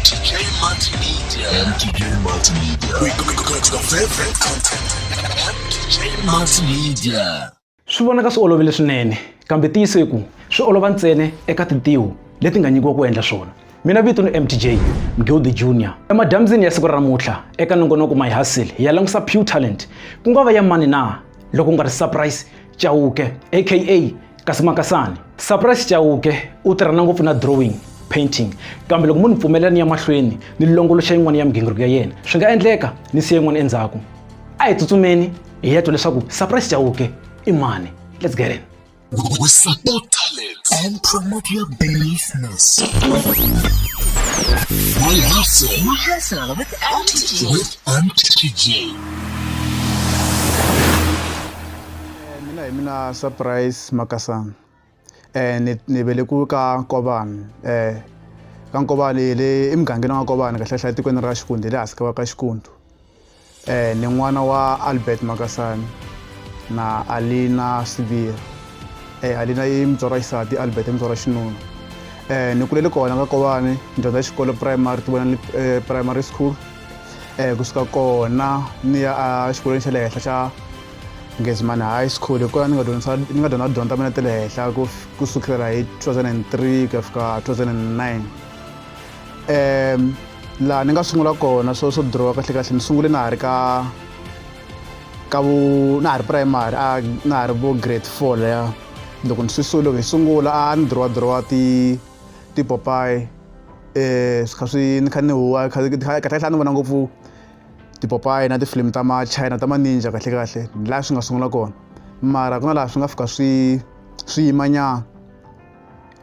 MTJ Multimedia. MTJ Multimedia. We go, go, go, go to the favorite content. MTJ Multimedia. swi vonaka swi olovile swinene kambe tiyiso hi ku swi olova ntsena eka tintiho leti nga nyikiwa ku endla swona mina vito ni mtj mgildi junior emadyambyini ya siku ra namuntlha eka nongonoko my hustle hi ya langusa pure talent ku nga va ya mani na loko u nga ri surprise Chauke aka Kasi Makasani. Surprise Chauke u tirhana ngopfu na drawing, painting, kambe loko mo ni pfumelela ni ya mahlweni ni longoloxa yin'wana ya migingiriko ya yena swi nga endleka ni siya yin'wana endzhaku. A hi tsutsumeni hi ya twa leswaku Surprise Chauke i mani. Let's get in. We support talents and promote your business. We hustle. We hustle with MTG. With MTG. mina hi mina surprise makasana um ni ni velekiwe ka nkovani um ka nkovani hi le emugangeni wa nkovani kahlehla etikweni ra xikundu hi le hansi ka va ka xikundu um ni n'wana wa albert makasani na alina sibira um alina yi mutswari wa xisati albert i mutswari wa xinuna um ni kulele kona ka kovani ni dyondza xikolo primary ti vona primary school um kusuka kona ni ya exikolweni xa le henhla xa Gezman High School hi kona ni nga dyondzisa ni nga dyondza dyondza mina ta le henhla ku ku sukela hi 2003 ku ya fika 2009 um laha ni nga sungula kona swo swo dirowa kahle kahle ni sungule na ha ri ka ka vu na ha ri primary a na ha ri vo grade four leya loko ni swi su loko hi sungula a ni dirowa dirowa ti tipopayi um swi kha swi ni kha ni huwa kahle kahle a ni vona ngopfu tipopayi na tifilimu ta machina ta maninja kahlekahle laha swi nga sungula kona mara ku na laha swi nga fika swi swi yimanyana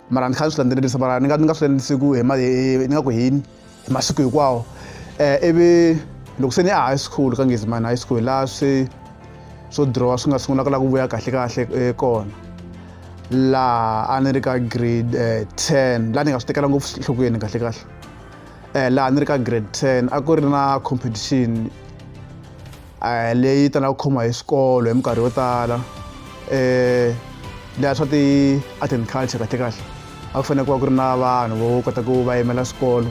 mara ni kha ni swi landzelerisa mara ni nga ni nga swi landzelerisi ku hi ni nga ku hini hi masiku hinkwawo um ivi loko se ni ya high school ka ngizimani high school laha swi swo drawa swi nga sungulaka laha ku vuya kahlekahle eh, kona laha a ni ri ka grade um ten laha ni nga swi tekela ngopfu enhlokweni kahlekahle eh, laha ni ri ka grade 10 a ku ri na competition eh, leyi talaka ku khomiwa hi swikolo hi minkarhi yo tala eh leya swa ti art and culture kahle kahle a ku fanele ku va ku ri na vanhu vo kota ku va yimela swikolo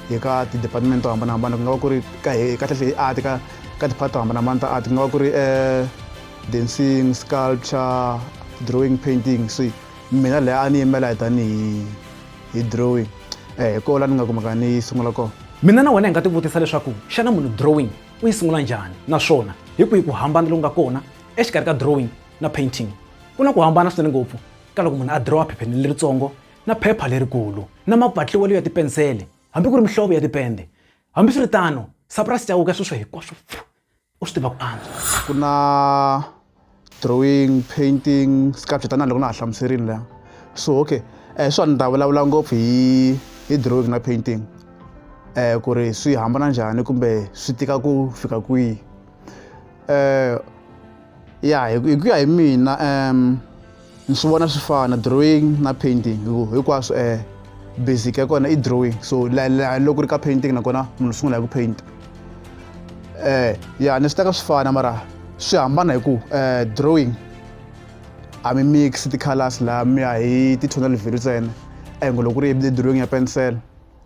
hi ka ti-department to hambanahambana ku nga va ku ri kahlekahle hi art ka ka ti-part to hambanahambana ta art ku nga va ku ri um dancing sculpture drawing painting so mina leya a ni yimela hi tanihi hi drawing eh hi kona la ni nga kumaka ni yi sungula kona mina na wena hi nga tivutisa leswaku xana munhu drawing u yi sungula njhani naswona hi kwihi ku hambana loku nga kona exikarhi ka drawing na painting ku na ku hambana swinene ngopfu ka loko munhu a drawa phepheni leritsongo na phepha lerikulu na mapatliwelo ya tipensele hambi ku ri mihlovo ya tipende hambiswiritano sapurasi cawuka sweswo hinkwaswo u swi tiva ku antswa ku na drawing painting sculpture tanihi loko na ha hlamuserile la so okay um swa ni ta vulavula ngopfu hi hi drawing na painting um ku ri swi hambana njhani kumbe swi tika ku fika kwihi um ya hi ku ya hi mina um ni swi vona swi fana drawing na painting hi ku hinkwaswo um eh, basic ya kona i drawing so loko ri ka painting nakona munhu sungula hi ku painta um eh, ya ni swi teka swi fana mara swi hambana hi ku um drawing a mi mix ti-colors laha mi ya hi ti-tonal value ntsena engo loko ri hi drawing ya pensela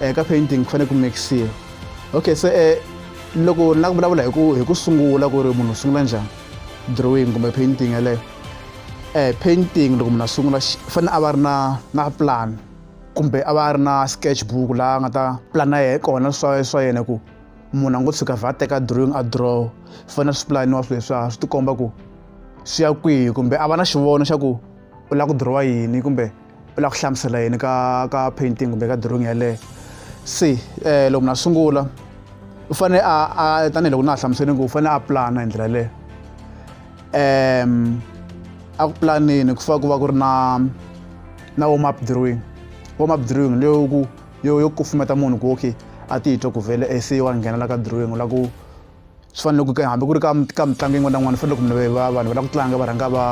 um ka painting ku fanele ku mixile okay se um loko na ku vulavula hi ku hi ku sungula ku ri munhu u sungula njhani drawing kumbe painting yeleyo um painting loko munhu a sungula fanele a va ri na na plan kumbe a va ri na sketch book laha a nga ta plana yehe kona swa swa yena ku munhu a ngo tshuka vha teka drawing a draw fanele swi pulaniwa swilo leswiya swi tikomba ku swi ya kwihi kumbe a va na xivono xa ku u lava ku dirowa yini kumbe u lava ku hlamusela yini ka ka painting kumbe ka drawing yeleyo se um loko munhu a sungula u fanele a a tanihiloko na ha hlamusele ku u fanele a pulana hi ndlela leyo um a ku pulanini ku fana ku va ku ri na na warm up drawing warm up drawing leyo ku yo yo kufumeta munhu ku okay a titwa ku vhele e se wa nghenela ka drawing u lava ku swi fanele ku hambi ku ri ka ka mitlangu yin'wana na yin'wana fanele ku munhu va vanhu va lava ku tlanga va rhanga va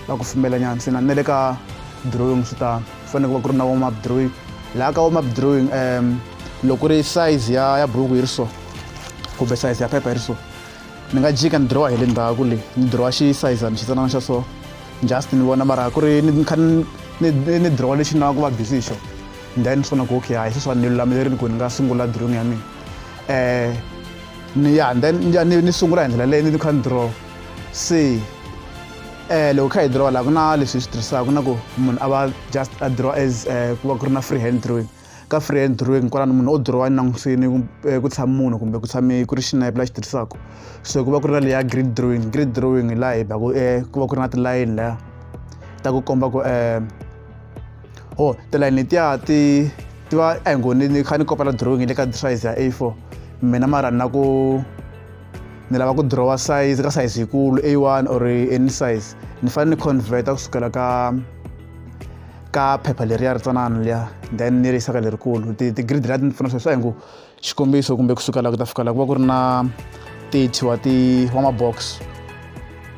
va ku fumela nyana se na le ka drawing swi tano ku fanele ku va ku ri na warm up drawing laha ka warm up drawing um loko ku ri size ya ya buruku yi ri so kumbe size ya phepha yi ri so ni nga jika ni drawa hi le ndzhaku leyi ni drawa xisayizana xitsanana xa so just ni vona mara ku ri ni kha ni drawa lexi ni lava ku va busy hi xona then ni swi vona ku okay hayi sweswiwani ni lulamerile ku ni nga sungula drawing ya mina um ni ya then ya ni ni sungula hi ndlela leyi ni kha ni draw se eh loko kha hi draw la ku na leswi swi tirhisaka na ku munhu a va just a draw as eh, ku va ku ri na free hand drawing ka free hand drawing kwalano munhu o draw ni langusini eh, ku tshama munhu kumbe ku tshame ku ri xinepe la xi tirhisaka so ku va ku ri na leya grid drawing grid drawing hi laha hi baku eh, ku va ku ri na tilayini laya ta ku komba ku um o oh, tilayini letiya ti ti va a hi ngo ni ni kha ni kopela drawing le ka size ya a4 mina mara ni na ku ni lava ku drawa size ka size yikulu a1 or any size ni fanele ni converta kusukela ka ka phepha leriya ri tsanana liya then ni ri yisa ka lerikulu ti-grid lati ni pfuna sweswi a hi ngo xikombiso kumbe kusuka la ku ta fika la ku va ku ri na 30 wa ti wa mabox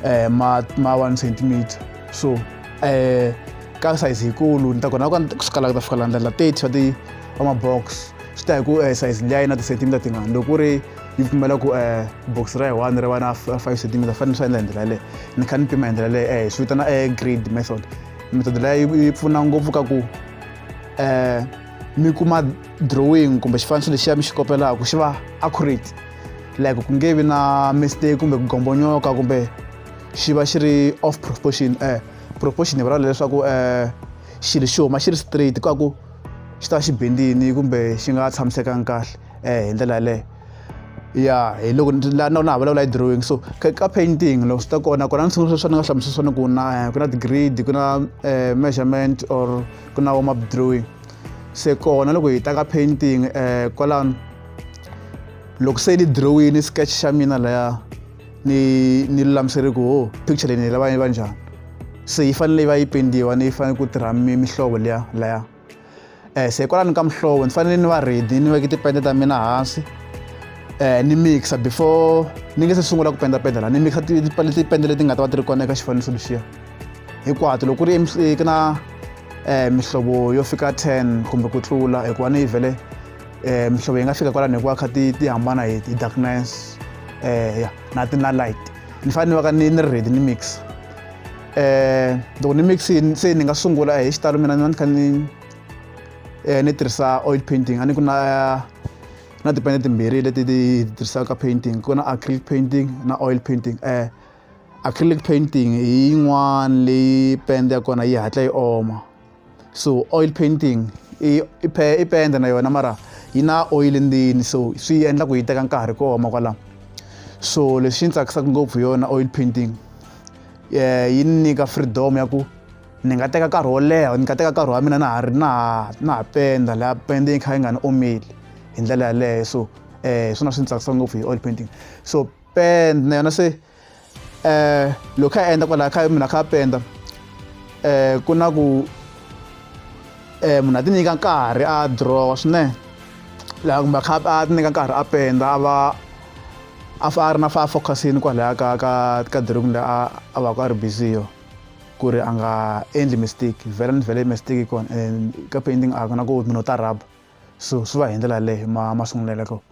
eh ma ma 1 centimeter so eh ka size yikulu ni ta kona kusuka la ku ta fika la ndlela 30 wa ti wa mabox swi ta hi ku eh size liya yi na ti-centimeter tingani loko ku ri yi pfumela ku eh box ra yi one ri va na 5 centimeter fanele swi endla hi ndlela yaleyo ni kha ni pima hi ndlela leyo eh swi vitana eh grade method method leyi yi pfuna ngopfu ka ku eh mi kuma drawing kumbe xifaniso lexiya mi xi kopelaka xi va accurate like ku nge vi na mistake kumbe ku gombonyoka kumbe xi va xi ri off proportion eh proportion hi vulavula leswaku eh xilo xi huma xi ri straight ku ku xi ta xi bendini kumbe xi nga tshamisekanga kahle eh hi ndlela yaleyo ya hi loko la na na vulavula hi drawing so ka painting loko swi ta kona kona ni sungula swa ni nga hlamusela swona ku na eh, ku na ti-grade ku na eh, measurement or ku na warm up drawing se kona loko hi ta ka painting eh kwalano loko se ni drawini sketch xa mina laya ni ni lulamiseri ku ho picture leyi ni lava yi va njhani se yi fanele yi va yi pendiwa ni yi fanele ku tirha mihlovo liya laya eh se kwalano ka mihlovo ni fanele ni va ready ni veke tipende ta mina hansi eh ni mixa before ni nge se sungula ku pendapenda la ni mixa tipende leti nga ta va ti ri kona eka xifaniso lexiya hinkwato loko ku ri ku na um mihlovo yo fika 10 kumbe ku tlula hikuva ni yi vele um mihlovo yi nga fika kwalani hikuva kha ti ti hambana hi hi darkness um ya na ti na light ni fanele ni va ka ni ni ready ni mix um loko ni mix se ni nga sungula hi xitalo mina ni va ni kha ni um ni tirhisa oil painting a ni ku na na tipende timbirhi leti ti tirhisaka painting ku na acrylic painting na oil painting um acrylic painting hi yin'wana leyi pende ya kona yi hatla yi oma so oil painting i i pende na yona mara yi na oil ndzeni so swi endla ku yi teka nkarhi ku oma kwalaho so lexi ni tsakisaka ngopfu hi yona oil painting eh, yi ni nyika freedom ya ku ni nga teka nkarhi wo leha ni nga teka nkarhi wa mina na ha ri na ha na ha penda laha pende yi kha yi nga ni omeli hi ndlela yaleyo so um swona swi ni tsakisa ngopfu hi oil painting so pend na yona se eh loko kha endla kwala kha mina kha penda eh ku na ku eh munhu a ti nyika nkarhi a draw swinene laha kumbe kha a ti nyika nkarhi a penda a va a fa a ri na fa focusini kwalaya ka ka ka drawing leyi a a va ku a ri busy yo ku ri a nga endli mistake vhele ni vhele mistake kona and ka painting a ku na ku munhu u ta rhaba so swi va hi ndlela leyo ma ma sunguleleko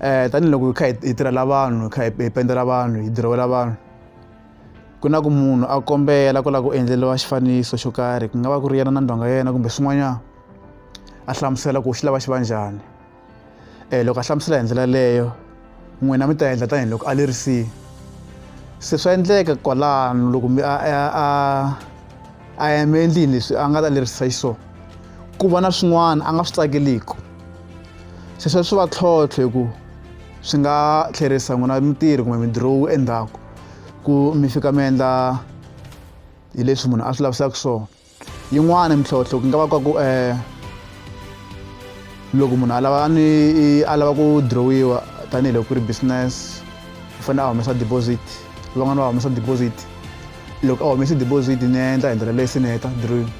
um tanihiloko hi kha hi tirhela vanhu hi kha hi pendzela vanhu hi dirowela vanhu ku na ku munhu a kombela ku lava ku endleriwa xifaniso xo karhi ku nga va ku ri yena na ndhonga ya yena kumbe swin'wanyana a hlamusela ku xi lava xi va njhani um loko a hlamusela hi ndlela leyo n'wina mi ta endla tanihiloko a lerisile se swa endleka kwalano loko mi a a a a yame endlini leswi a nga ta lerisisa xiswona ku va na swin'wana a nga swi tsakeliki sweswo swi va tlhontlho hi ku swi nga tlherisa n'wina mitirhi kumbe midirowu endzhaku ku mi fika mi endla hi leswi munhu a swi lavisaka swona yin'wana mintlhontlho ku nga va ka ku um loko munhu a lava ni a lava ku dirowiwa tanihiloko ku ri business u fanele a humesa deposit van'wana va humesa deposit loko a humese deposit ni endla hi ndlela leyi se ni heta dirowiwa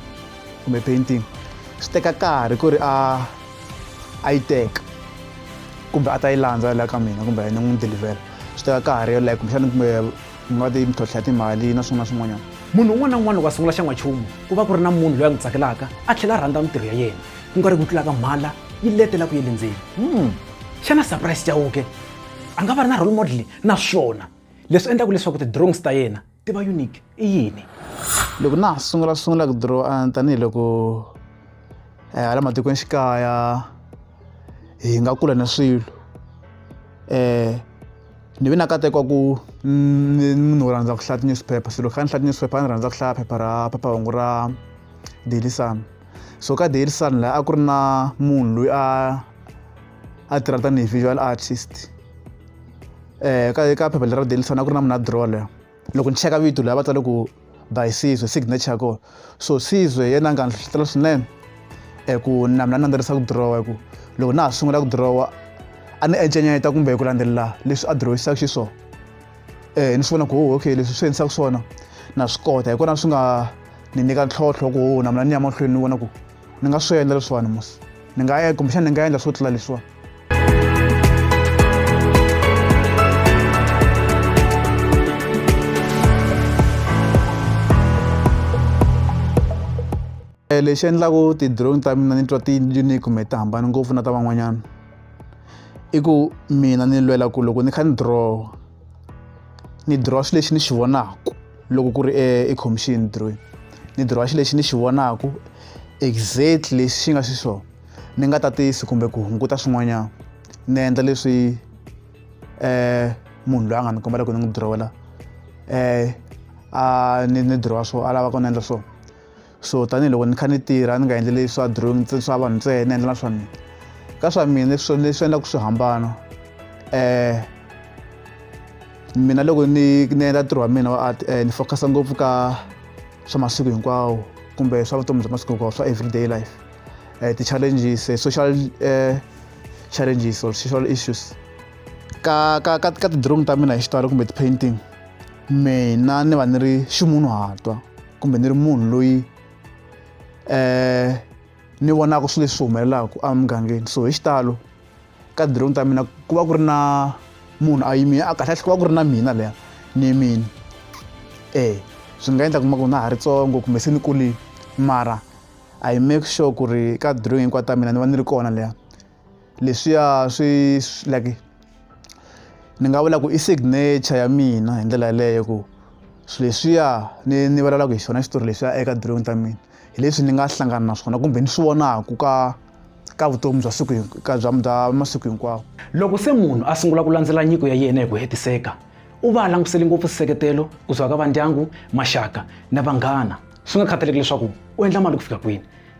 kumbe painting swi teka karhi ku ri a a yi teka kumbe a ta yi landza la ka mina kumbe ni n'wi delivhela swi teka karhi yo like kumbexana kumbe mi va ti mintlhontlha ya timali na swin'wana swin'wanyana munhu un'wana na un'wana loko a sungula xan'wanchumu ku va ku ri na munhu loyi a n'wi tsakelaka a tlhela a rhandza mintirho ya yena ku nga ri ku tlulaka mhala yi letela ku yi lindzeni hmm. xana surprise chauke a nga va ri na role model naswona leswi endlaka leswaku ti-drawings ta yena tiva unique i yini loko na ha sungula sungula ku draw a tanihiloko eh, hala matikweni xikaya hi nga kula na swilo eh ni ve na katekwa ku munhu wo rhandza ku hlaya tinewspaper se loko kha ni hlaya tinewspaper a ni rhandza ku hlaya phepha ra phephahungu ra daily sun so ka daily sun laha a ku ri na munhu loyi a a tirha tanihi visual artist um ka ka phepha lera daily sun a ku ri na munhu a dirola loko ni cheka vito leyi a va tsale ku by sizwe signature ya kona so sizwe yena a nga ni hlohlotela swinene um ku na mina ni landzelerisa ku dirowa hi ku loko na ha sungula ku dirowa a ni encenyeta kumbe ku landzelela leswi a dirowisisaku xiswona um eh, ni swi vona ku oh, okay leswi swi endlisaku swona na swi kota hi kona swi nga ni nyika ntlhontlho ku oh, na mina ni ya mahlweni ni vona ku ni nga swi endla leswiwani musi ni nga ya kumbexana ni nga endla swo tlula leswiwani eh, lexi endlaku ti-drone ta mina ni twa ti-unique kumbe ti hambani ngopfu na ta van'wanyana i ku mina ni lwela ku loko ni kha ni draw ni dirowa xilo lexi ni xi vonaka loko ku ri ekhomixini ni dirowini ni dirowa xilo lexi ni xi vonaka exact lexi xi nga xiswona ni nga tatisi kumbe ku hunguta swin'wanyana ni endla leswi um munhu loyi a nga ni kombela ku ni n'wi dirowela um a ni ni dirowa swo a lava ku ni endla swona so tanihiloko ni kha ni tirha ni nga endleli swa drawing swa vanhu ntsena ni endlela swa mina ka swa mina leswi leswi endlaka swi hambana eh mina loko ni ni endla ntirho wa mina wa art eh, ni focus ngopfu ka swa masiku hinkwawo kumbe swa vutomi bya masiku hinkwawo swa everyday life eh, ti-challenges eh, social eh, challenges or social issues ka ka ka, ka ti-drawing ta mina hi xitalo kumbe ti-painting mina ni va ni ri ximunhu hatwa kumbe ni ri munhu loyi um ni vonaka swilo leswi humelelaka emugangeni so hi xitalo ka dironi ta mina ku va ku ri na munhu a yimile a kahlekahle ku va ku ri na mina leya ni yimile e swi nga endla kuma ku na ha ri tsongo kumbe se ni kulile mara i make sure ku ri ka dironi hinkwato ta mina ni va ni ri kona leya leswiya swi like ni nga vula ku i signature ya mina hi ndlela yaleyo ku swilo leswiya ni ni vulavulaka hi xona xitori leswiya eka drawing ta mina hi leswi ni nga hlangana na swona kumbe ni swi vonaka ka ka vutomi bya siku ka bya bya masiku hinkwawo loko se munhu a sungula ku landzela nyiko ya yena hi ku hetiseka u va a langutisele ngopfu nseketelo ku suka ka vandyangu maxaka na vanghana swi nga khathaleki leswaku u endla mali ku fika kwini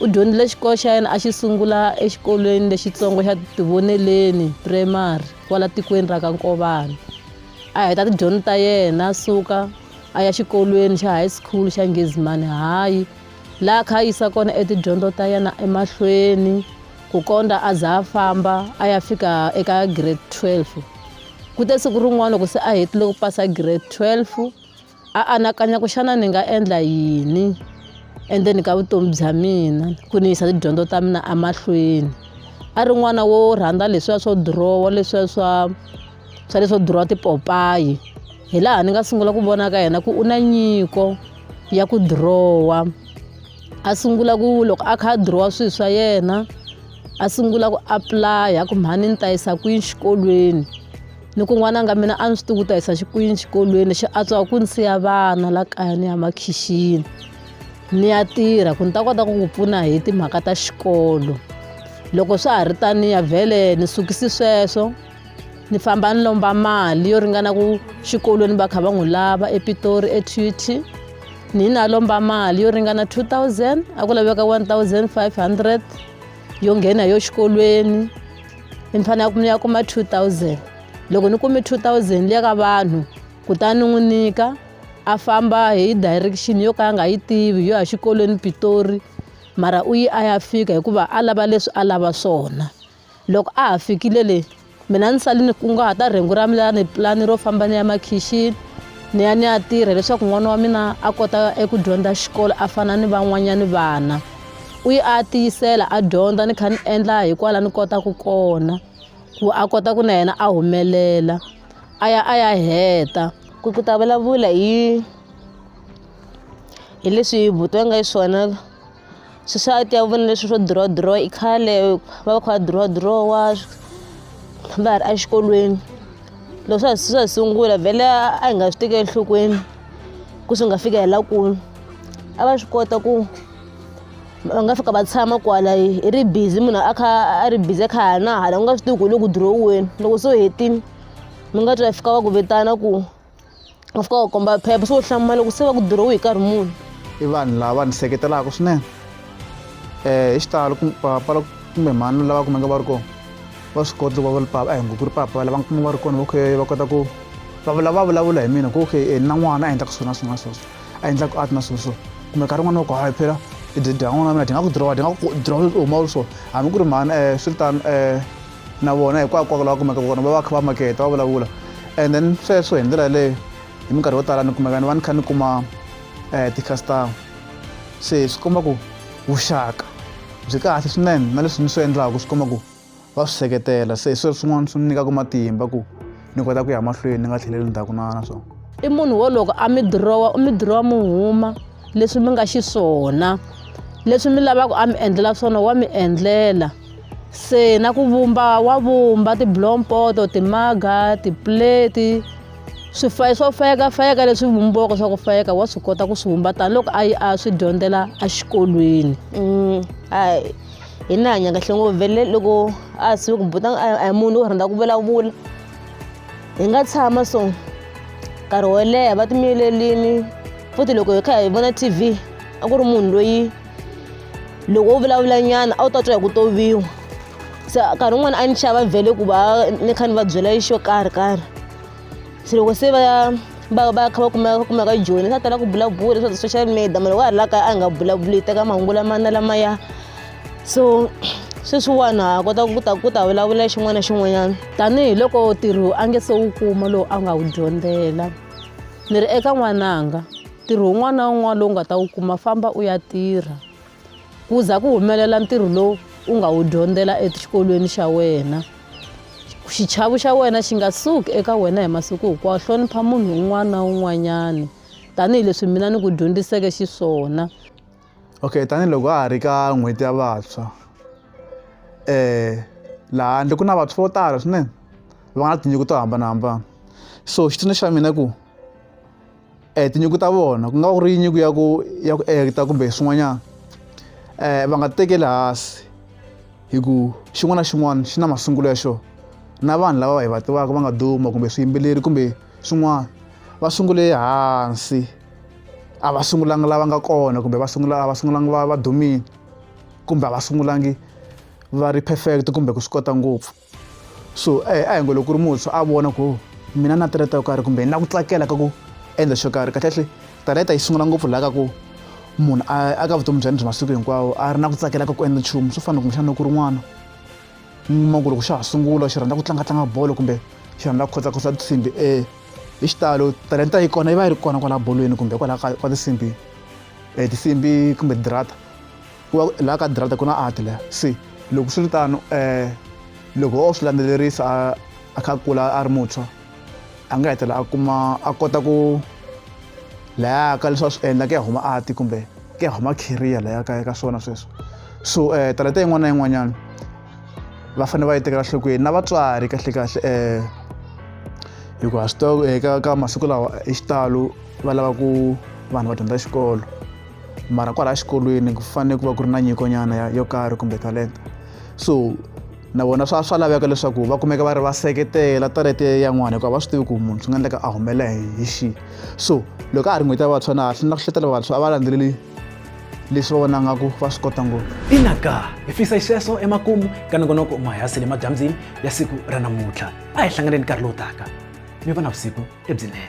U dyondzile xikolo xa yena a xi sungula exikolweni lexitsongo xa Tivoneleni Primary kwala tikweni ra ka Nkovana. A heta tidyondzo ta yena a suka a ya xikolweni xa high school xa Ngezimani High laha kha a yisa kona etidyondzo ta yena emahlweni ku kondza a za a famba a ya fika eka grade 12. Ku te siku rin'wana loko se a hetile ku pasa grade 12 a anakanya ku xana ni nga endla yini endzeni ka vutomi bya mina ku ni yisa tidyondzo ta mina emahlweni a ri n'wana wo rhandza leswiya swo dirowa leswiya swa swa leswo dirowa tipopayi hi laha ni nga sungula ku vona ka yena ku u na nyiko ya ku dirowa a sungula ku loko a kha a dirowa swilo swa yena a sungula ku apulaya ku mhani ni ta yisa kwini xikolweni loko n'wananga mina a ni swi tivi ku ta hisa xikwini xikolweni lexi antswaka ku ni siya vana la kaya ni ya makhixini ni ya tirha ku ni ta kota ku ku pfuna hi timhaka ta xikolo loko swa ha ri taniya vhele ni sukisi sweswo ni famba ni lomba mali yo ringana ku xikolweni va kha va n'wi lava epitori etut ni na lomba mali yo ringana 2000 a ku laveka 1500 yo nghena yo xikolweni ni ni fanele ni ya kuma 2000 loko ni kume 2000 liya ka vanhu kutani ni n'wi nyika a famba hi direction yo ka a nga yi tivi yo ya xikolweni pitori mara u yi a ya fika hikuva a lava leswi a lava swona loko a ha fikile le mina ni sale ni kunguhata rhengu ra mina ni pulani ro famba ni ya makhixini ni ya ni ya tirha leswaku n'wana wa mina a kota eku dyondza xikolo a fana ni van'wanyani vana u yi a tiyisela a dyondza ni kha ni endla hi kwala ni kotaku kona ku a kota ku na yena a humelela a ya a ya heta ku ku ta vulavula hi hi leswi buti va nga yi swona swi swa ti ya vona leswi swo draw draw i khale va va kha va draw draw wa va ha ri exikolweni loko swa swa sungula vhele a hi nga swi tekeli enhlokweni ku swi nga fika hi la kulu a va swi kota ku va nga fika va tshama kwala i ri busy munhu a kha a ri busy a kha a na hala u nga swi tivi ku hi le ku dirohiweni loko se u hetile mi nga twa fika va ku vitana ku va fika va komba phepha se u hlamula loko se va ku dirohi hi nkarhi muni i vanhu lava ni seketelaka swinene um hi xitalo pala kumbe mhani lava kumeka va ri kona va swi kota loko va ri papa a hi ngo ku ri papa lava kuma va ri kona va va kota ku va vulavula hi mina ku okay na n'wana a endlaka swona swona sweswo a endlaku art na swilo swo kumbe nkarhi wun'wana wa ku hayi phela tidyangwana na mina ti nga ku dirowa ti nga ku dirowa swi huma swo hambi ku ri mhani um eh, swi ri tano um eh, na vona hikwakwaku lawa kumeka kona va va kha va maketa va vulavula and then sweswo hi ndlela yaleyo hi minkarhi yo tala ni kumeka ni va ni kha ni kuma um eh, ti-customer se swi komba ku vuxaka byi kahle swinene na leswi ni swi endlaku swi komba ku va swi seketela se hi sweswo swin'wana swi ni nyikaka matimba ku ni kota ku ya mahlweni ni nga tlheleli ndzhaku na na swona i munhu wo loko a mi dirowa u mi dirowa mi huma leswi mi nga xiswona leswi mi lavaka a mi endlela swona wa mi endlela se na ku vumba wa vumba tiblompoto timaga tipleti swifayi swo fayeka fayeka leswi vumbiwaka swa ku fayeka wa swi kota ku swi vumba tanihiloko a yi a swi dyondzela exikolweni mm, hayi hi ni hanya kahle ngopfu vele loko a sive ku buta a hi munhu wo rhandza ku vulavula hi nga tshama so nkarhi wo leha va timiyelelini futhi loko hi kha hi vona tv a ku ri munhu loyi loko u vulavula nyana a wu ta twa hi ku toviwa se nkarhi wun'wana a ni xava vhele ku va ni kha ni va byela xo karhi karhi se loko se va va va kha va kumeka va kumeka joyina swa tala ku bulabula leswaku social media munhu wa ha ri la kaya a nga bulabuli hi teka mahungu lamana lamaya so sweswiwani ha kota ku ta ku ta vulavula xin'wana na xin'wanyana tanihiloko ntirho a nge se wu kuma lowu a nga wu dyondzela ni ri eka n'wananga ntirho wun'wana na wun'wana lowu nga ta wu kuma famba u ya tirha ku za ku humelela ntirho lowu u nga wu dyondzela exikolweni xa wena xichavo xa wena xi nga suki eka wena hi masiku hinkwawo hlonipha munhu un'wana na un'wanyana tanihileswi mina ni ku dyondziseke xiswona okay tanihiloko a ha ri ka n'hweti ya vantshwa um laha handle ku na vantshwa vo tala swinene va nga na tinyiko to hambanahambana so xitsundzuxo xa mina ku um tinyiko ta vona ku nga ku ri nyiko ya ku ya ku ekta kumbe swin'wanyana um va nga tekeli hansi hi ku xin'wana na xin'wana xi na masungulo ya xona na vanhu lava hi va tivaka va nga duma kumbe swiyimbeleri kumbe swin'wana va sungule hansi a va sungulanga lava nga kona kumbe va sungula a va sungulanga va va dumile kumbe a va sungulangi va ri perfect kumbe ku swi kota ngopfu so a hi ngo loko ku ri muntshwa a vona ku mina na talenta yo karhi kumbe na ku tsakela ka ku endla xo karhi kahlekahle talenta yi sungula ngopfu laha ka ku munhu a ka vutomi bya ni bya masiku hinkwawo a ri na ku tsakela ka ku endla nchumu swo fana kumbexana loko ku ri n'wana ma ku loko xa ha sungula xi rhandza ku tlangatlanga bolo kumbe xi rhandza ku khotsakhosa tinsimbi e hi xitalo talenta yi kona yi va yi ri kona kwala bolweni kumbe kwala ka tinsimbi um tinsimbi kumbe dirata ku va laha ka drata ku na ati laha se loko swi ri tano um loko o swi landzelerisa a a kha kula a ri muntshwa a nga hetelela a kuma a kota ku laya ka leswi a swi endla ku ya huma ati kumbe ku ya huma career laya ka ka swona sweswo so um talenta yin'wana na yin'wanyana va fanele va yi tekela nhlokweni na vatswari kahlekahle um hikuva swi eka ka masiku lawa hi xitalo va lava ku vanhu va dyondza xikolo mara kwalaha xikolweni ku fanele ku va ku ri na nyikonyana yo karhi kumbe talenta so na vona swa swa laveka leswaku va kumeka va ri va seketela talente yan'wana hikuva va swi tivi ku munhu swi nga endleka a humelela hi xi so loko a ha ri n'hweti ya vantshwa na ha hlina ku hletela vantshwa a va landzeleli leswi va vona nga ku va swi kota ngopfu ina ka hi fisa xexo emakumu ka nongonoko mahayasi le madyambyini ya siku ra namuntlha a hi hlanganeni nkarhi lowu taka mi va na vusiku lebyinene